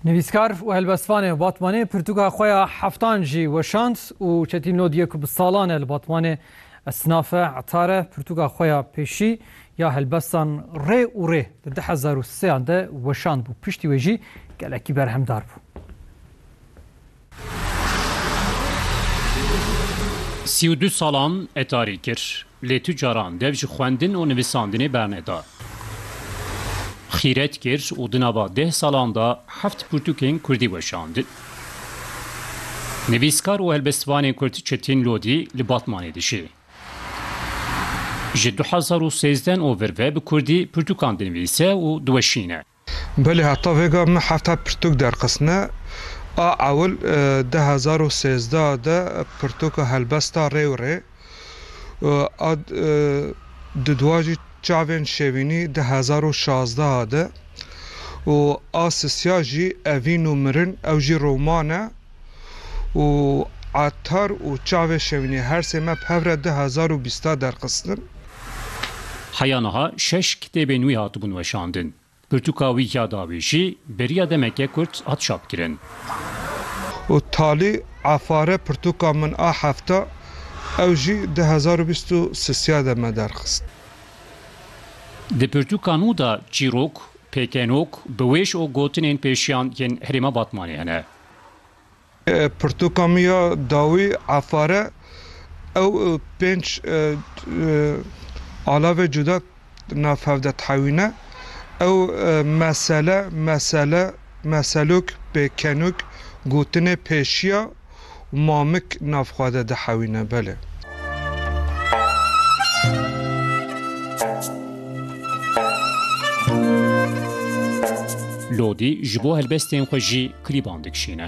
Nivîskar û helbestvanê Batmanê pirtûka xwe ya heftan jî weşand û Çetîn Lod yê ku bi salan e li Batmanê esnaf e, etar e, pirtûka xwe ya pêşî ya helbestan rê û rê di du hezar û sê an de weşandbû. Piştî wê jî gelekî berhemdar bû. Sî û du salan etarî kir, lê tu caran dev ji xwendin û nivîsandinê berneda. Xîret kir û di nava deh salan de heft pirtûkên kurdî weşandin. Nivîskar û helbestvanê kurd Çetin Lodî li Batmanê dijî. Ji du hezar û sêzdeh û vir ve bi kurdî pirtûkan dinivîse û diweşîne. Belê heta vêga me hefta pirtûk derxistine. A ewil di hezar û sêzdeh de pirtûka helbesta rê û rê a di dua jî çavên şevînî di hezar û şazdeh de û a sisiya jî evîn û mirin ew jî roman e. û atar û çavê şewînê her sê me bi hev re di hezar û bîsta derxistin. Heya niha şeş kitêbên wî hatibûn weşandin. Pirtûka wî ya dawî jî beriya demeke kurt hat çapkirin. Û talî afare pirtûka min a hefta ew jî di hezar û bîst û sisiya de me derxist. Di pirtûka nû de çîrok, pêkenok, biwêş û gotinên pêşiyan yên herêma Batmanê hene. Pirtûka min ya dawî Efar e. Ew pênc alavê cuda nav hev de dihewîne. Ew mesele, mesele, meselûk, pêkenûk, gotinê pêşiya û mamik nav xwe de dihewîne. Belê. Lodî ji bo helbestên xwe jî klîban dikişîne.